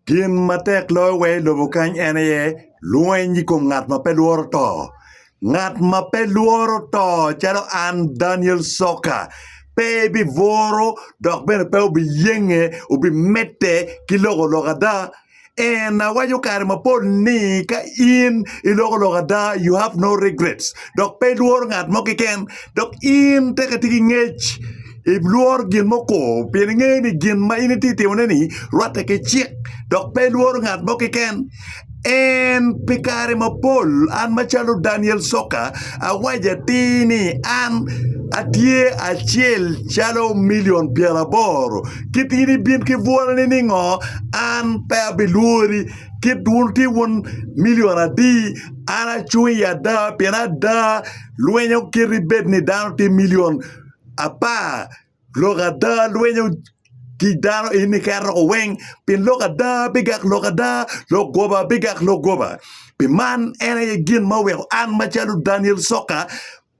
Gin ma tek loyo wee i lobo kany en aye lweny i kom ngat ma pe lworo to. Ngat ma pe lworo to calo an Daniel Soka pe ebibworo dok bene pe obiyenge obimedde ki loko lok ada. En awaco kare mapol ni ka in iloko lok ada you have no regrets dok pe ilworo ngat mo keken dok in tek atye ki ngec. Ilwor gin mukor pien ingeyo ni gin ma in itye ka timone-ni rwatte ki cik, dok pe ilworo ngat mo keken. En Pi kare mapol, an macalo Daniel Soka, awaco atir ni an atye acel calo milion pyeraboro. Kit in ibin ki bwoloni ni ngo, an pe abilwori. Kit wun tye wun milion adi, an acung i ada pien ada lwinyo kit ibed ni dano tye milion. apar lok ada lwenyo ki dano in iketo woko weng pi lok ada bigak lok ada lok goba bigak lok goba pi man en aye gin ma oweko an macalo Daniel Coka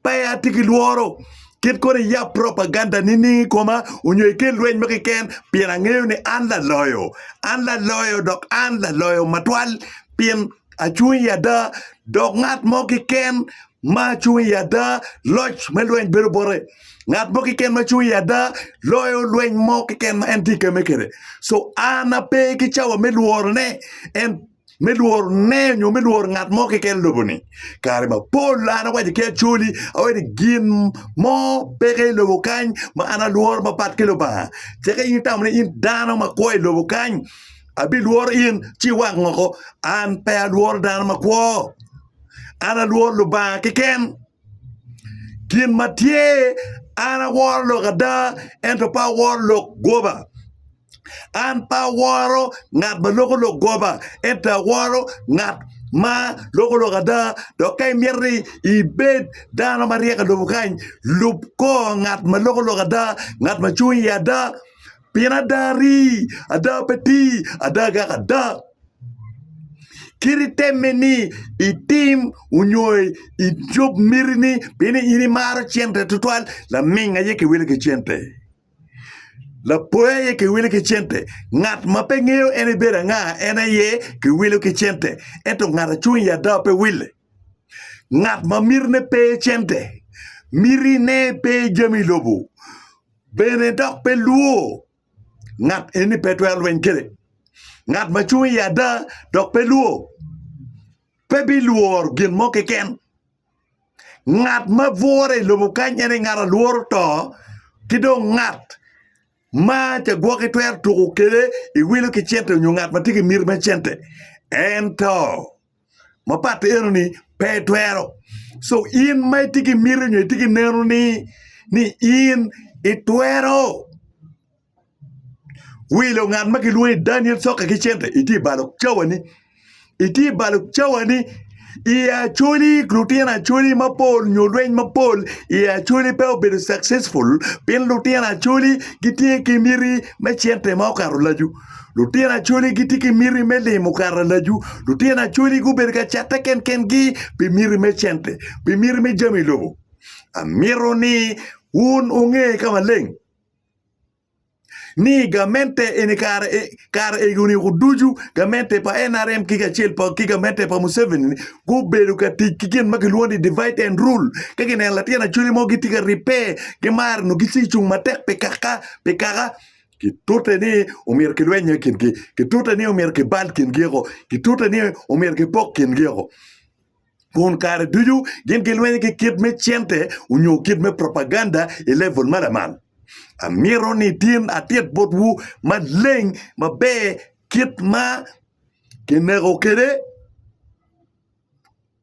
pe atye ki lworo kit kono iyab propaganda nining i koma onyo ikel lweny mo keken pien angeyo ni an laloyo an laloyo dok an laloyo matwal pien acung i ada dok ngat mo keken ma acung i ada loc me lweny bedo bote ngat mo keken ma cung i ada loyo lweny mo keken ma en tye keme kwede so an ape ki cawa me lworone en me lworone nyo me lworo ngat mo keken i lobo-ni kare mapol an awaco ki acoli awaco ni gin mo peke i lobo kany ma an alworo mapat ki Lubanga ceke in itamo ni in dano makwo i lobo kany Abilworo in ci iwak moko, an pe alworo dano makwo. An alworo Lubanga keken. Gin ma tye, an aworo lok ada, ento pe aworo lok goba. An pe aworo ngat ma loko lok goba, ento aworo ngat ma loko lok ada. Dok ka imito ni ibed dano maryek i lobo kany, lub kor ngat ma loko lok ada, ngat ma cung iye ada. Pien ada ri, ada pe ti, ada gak ada. Kit itemme ni itim onyo icob miti ni pien in imaro cente tutwal, laming aye kiwile ki cente. Lapoya aye kiwile ki cente. Ngat ma pe ngeyo en ibedo anga en aye kiwile ki cente. Ento ngat acung i ada pe wile. Ngat ma mitine pe cente, mitine pe jami lobo. bene dok pe lwor ngat eni pe twero lweny kwede, ngat ma cung i ada dok pe lwor pe bilworo gin mo keken. Ngat ma bwore i lobo kany en aye ngat ma lworo to, ki dong ngat ma cagwoki twero tuko kwede i wilo ki cente nyo ngat ma tye ki miti me cente en to. mapat eno ni pe itwero so in ma itye ki miti nyo itye ki neno ni ni in itwero wilo ngat ma kilwongo ni Daniel Coka ki cente itye i balo cawani itye i balo cawani i Acholi lutino Acholi mapol nyo lweny mapol i Acholi pe obedo successful pien lutino Acholi gitye ki miti me cente ma okato lacu. Lutino Acholi gitye ki miti me limo karalacu. Lutino Acholi gubedo ka catte kenkengi pi miti me cente, pi miti me jami lobo. Amito ni wun wunge ka maleng ni gamente eni kare kare egoni ducu gamente pa NRM ki kacel ki gamente pa Museveni gubedo ka tic ki gin ma kilwongo ni divide and rule. Ka gineno latin Acholi mo gitye ka ribbe, gimaro nongo gici cung matek pi kaka pi kaka. Kitute ni omyero kilweny i kingi, kitute ni omyero kibal kingi woko, kitute ni omyero kipok kingi woko. Kun kare ducu gin gilwenyo ki kit me cente onyo kit me propaganda i level ma lamal. Amito ni tin atit botwu maleng maber kit ma kineko kwede.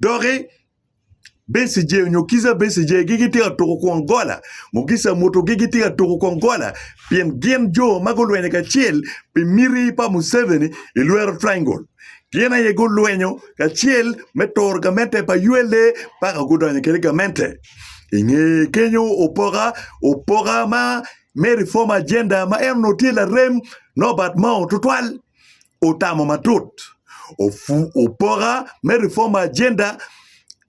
Doki Becije nyo kica Becijegi gitye ka tuko kwon gola, mugica mutogi gitye ka tuko kwon gola pien gin jo ma gulwenyo kacel pi miti pa Museveni i lwero triangle. Gin aye gulwenyo kacel me turo gamente pa ULA paka gudonyo kede gamente. I nge kenyo opoka opoka ma me reform agenda ma en onongo tye larem Norbert Mao tutwal. otamo matut opoka me Reform Agenda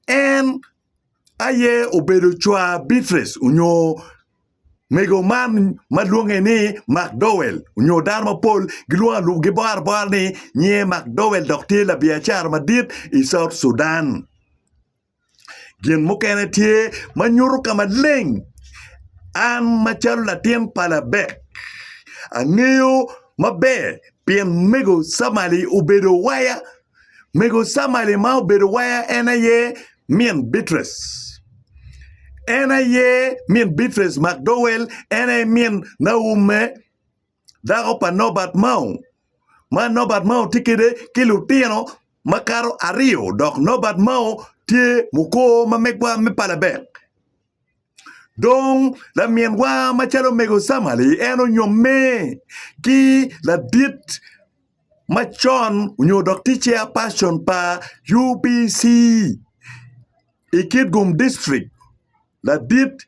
en aye obedo cwar Beatrice onyo mego man ma lwonge ni McDowell onyo dano mapol gibwaro abwara ni nyinger McDowell dok tye labiacara madit i South Sudan. Gin mukene tye ma nyuto ka maleng an macalo latin pa Labek angeyo maber pien mego Camalia obedo waya. Mego Camalia ma obedo waya en aye min Beatrice, en aye min Beatrice Macdowell, en aye min Naume. dako pa Norbert Mao, ma Norbert Mao tye kwede ki lutino makato aryo dok Norbert Mao tye mukor ma megwa me palabek. Dong laminwa macalo omego Samali en onyomme ki ladit macon nyo dok tye chairperson pa UBC i Kitgum District ladit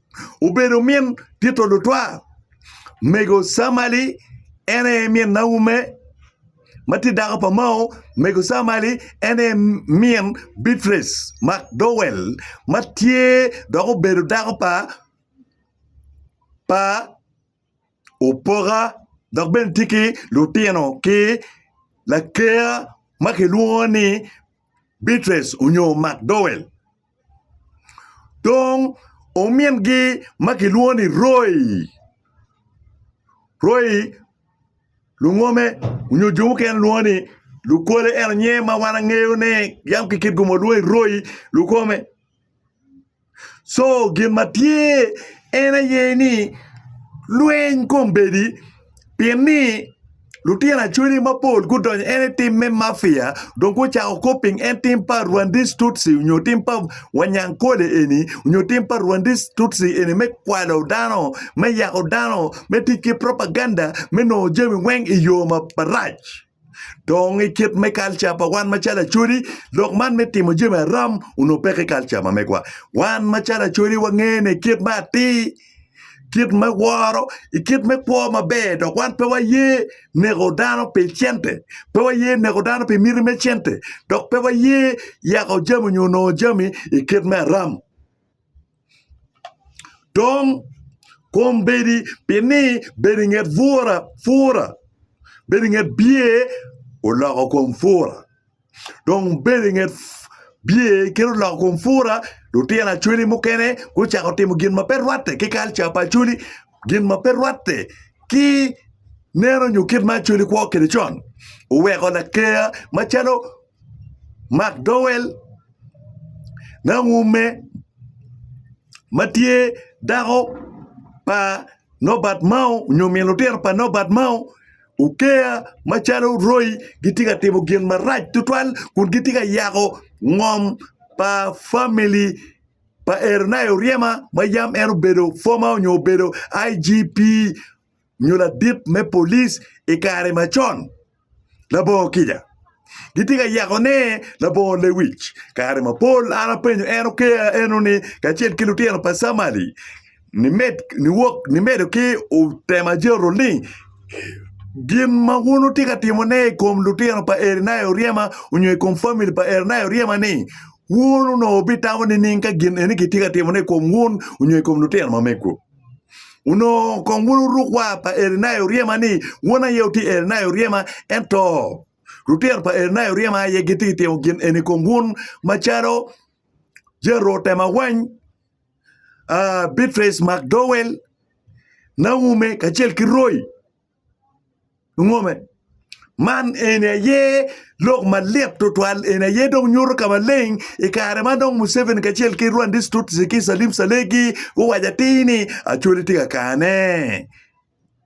obedo min tito lutwal. Mego Samali en aye min Naume ma tye dako pa Mao. Mego Samali en aye min Bicrec Macdowell ma tye dok obedo dako pa Opoka dok bene tye ki lutino ki laker ma kilwongo ni Bicrec nyo Macdowell. Dong omingi ma kilwongo ni Roy, Roy lungome nyo jo mukene lwongo ni Lukole ento nyinge ma wan angeyone yam ki kit kome walwongo ni Roy Lukome co gin ma tye en aye ni lweny kombeddi pi ni Lutino acwele mapol gudonyo en i tim me mafia dong gucako kop piny en tim pa Rwandese Tutsi nyo tim pa Wanyankole eni nyo tim pa Rwandese Tutsi eni me kwalo dano, me yako dano, me tic ki propaganda me nongo jami weng i yo marac. Dong i kit me kalca pa wan macalo Acholi, lok man me timo jami aram onongo pe ki kalca ma megwa. Wan macalo Acholi wangeyo ni kit me atir. kit me woro, i kit me kwo maber dok wan pe waye neko dano pi cente, pe waye neko dano pi miti me cente dok pe waye yako jami nyo nongo jami i kit me aram. Dong kombeddi pi ni bedo i nget bura pura, bedo i nget bye oloko kom pura. dong bedo inget bye kit oloko kom pura lutino acholi mukene gucako timo gin ma pe rwatte ki kalca pa acholi gin ma pe rwatte ki neno nyo kit ma acholi kwo kwede con oweko laker macalo Mark Dowell Nangume ma tye dako pa Nobert Mao nyo min lutino pa Nobert Mao Okeya macalo royi gitye ka timo gin marac tutwal kun gitye ka yako ngom pa famili pa Eroniah Oryema ma yam en obedo former onyo obedo IGP onyo ladit me police i kare macon. Labongo kica gitye ka yako ne labongo lewic kare mapol an apenyo en Okeya enoni kacel ki lutino pa Samali Nimedo ki temo ajeto ni gin ma wun wutye ka timone i kom lutino pa Eriya Oryema nyo i kom famili pa Eriya Oryema-ni, wun onongo wubitamo nining ka gin eni kitye ka timone i kom wun nyo i kom lutino ma megwu? Onongo kong wun wuruk war pa Eriya Oryema ni wun aye wutye Eriya Oryema ento lutino pa Eriya Oryema aye gitye ka timo gin eni i kom wun macalo Jericho otemo awany. Beatrice McDowell Naume kacel ki Roy Ngome. Man eni aye lok malit tutwal eni aye dong nyuto ka maleng i kare ma dong Museveni kacel ki Rwandese Tutsi ki Salim Salegi guwaco atir ni Acholi tye ka kane.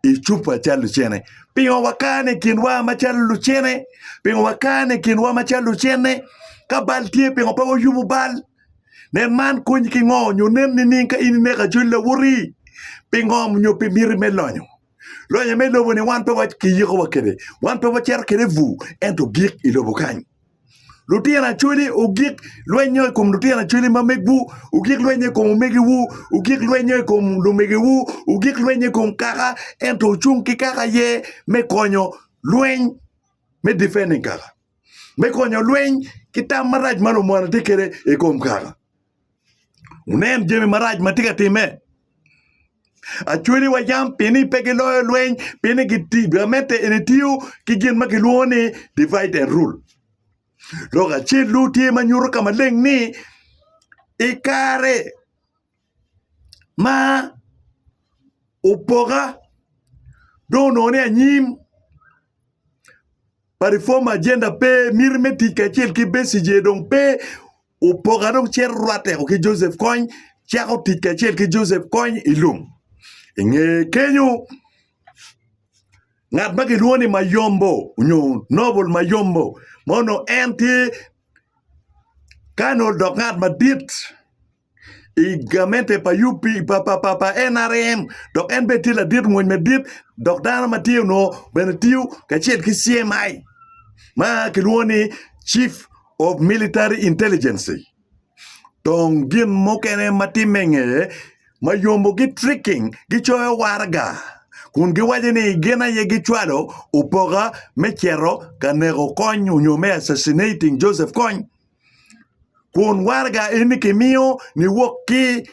i cupa calo lucene. Pingo wakane i kinwa macalo lucene? Pingo wakane i kinwa macalo lucene? Ka bal tye pingo pe wayubo bal? Nen man konyi ki ngo nyo nen nining ka in ineko ajoli lawotii? Pingo nyo pi miti me lonyo? Lonyo me lobo ni wan pe wakiyiko wa kede wan pe wacito kede bur ento gik ilobo kany. Lutino Acholi ogik lwennyo i kom lutino Acholi ma megwu, ogik lwennyo i kom omegiwu, ogik lwennyo i kom lumegiwu, ogik lwennyo i kom kaka, ento wucung ki kaka ye me konyo lweny, me defending kaka, me konyo lweny ki tam marac ma lumonde tye kwede i kom kaka. Wunen jami marac ma tye ka timme. Acweliwa yam pi ni pe giloyo lweny, pi ni gamente eni tiyo ki gin ma kilwongo ni divide and rule. Lok acel-lu tye ma nyuto ka maleng ni i kare ma opoka dong onongo ni anyim, pa reform agenda pe, miti me tic kacel ki Besigye dong pe, opoka dong cito rwatteko ki Joseph Kony, cako tic kacel ki Joseph Kony i lum. I nge kenyo, ngat ma kilwongo ni Mayombo onyo Noble Mayombo ma onongo en tye Colonel dok ngat madit I gamente pa UP pa NRM dok en bene tye ladit mony madit dok dano ma tye onongo bene tiyo kacel ki CMI ma kilwongo ni Chief of Military Intelligence. Dong gin mukene ma timme i ngeye ma yombo gitricking gicoyo waraga kun giwaco ni gin aye gicwalo opoka me cito ka neko Kony nyo me assassinating Joseph Kony. kun waraga eni kimiyo niwok ki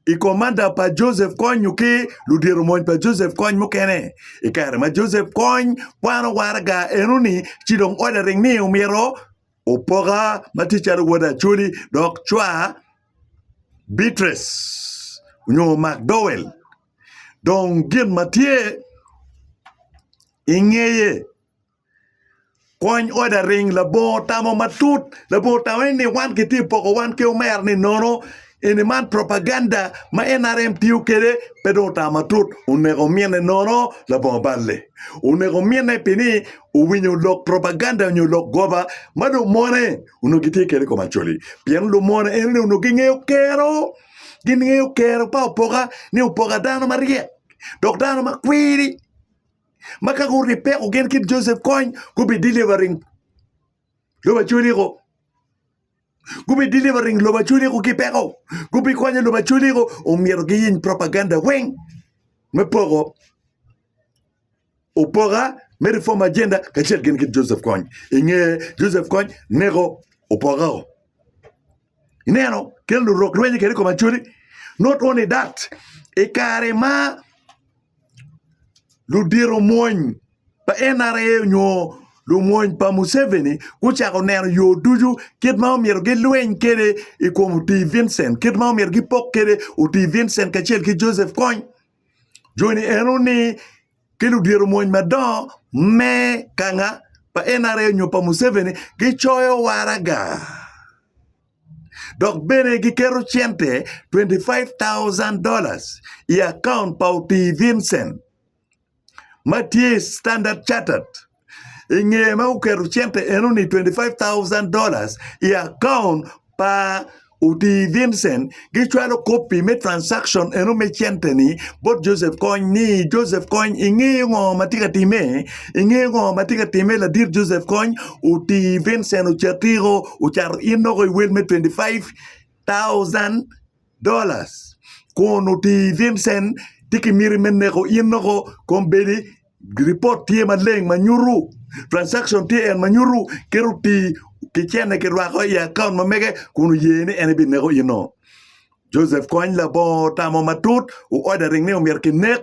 i komanda pa Joseph Kony nyo ki ludito mony pa Joseph Kony mukene i kare ma Joseph Kony kwano waraga enoni ci dong ot laring ni omyero opoka ma tye calo wod Acholi dok cwa Beatrice nyo Macdowel dong gin ma tye ingeye Kwany ot aring labongo otamo matut labongo otamo ni wan kitye ka poko wan ki omera ni nono eni man propaganda ma nrm tiyo kwede pe dong otamo matut oneko omine nono labongo balle oneko omine pi ni owinyo lok propaganda nyo lok goba ma lumone onongo gitye kwede i kom Acholi pien lumone en ni onongo gingeyo kero gingeyo kero pa opoka ni opoka dano maryek dok dano makwiri. ma ka gurib peko gin kit Joseph Kony gubi delivering lobo Acholi ko gubi delivering lobo Acholi ko ki peko gubi konyo lobo Acholi ko omyero giyiny propaganda weng me poko opoka me reform agenda kacel gin kit Joseph Kony inge Joseph Kony neko opoka o Ineno? Kit ma lurok rwenyo kwede i kom Acholi, not only that, i kare ma ludito omwony pa NRA nyo lumwony pa Museveni gucako neno yo ducu kit ma omyero gilweny kwede i kom Otii Vincent, kit ma omyero gipok kwede Otii Vincent kacel ki Joseph Kony. joni eno ni ki ludito mony madongo me kanga pa NRA nyo pa Museveni gicoyo waraga dok bene giketo cente $25,000 i akaunt pa Otii Vincent ma tye i Standard Chartered. i nge ma oketo cente eno ni 25,000 dollars i account pa oti Vincent gicwalo kopi me transaction eno me cente ni bot Joseph Kony ni Joseph Kony inge ngo ma tye ka time inge ngo ma tye ka time ladit Joseph Kony oti Vincent ocati o ocato in noko i wel me 25,000 dollars kun otir Vincent tye ki miti me neko in nongo kom bedi report tye maleng ma nyutu transaction tye en ma nyutu kit otir ki cene ki rwako i account ma mege kun oye ni en bi neko ino Joseph kony labongo otamo matut o order ring ni omyero ki nek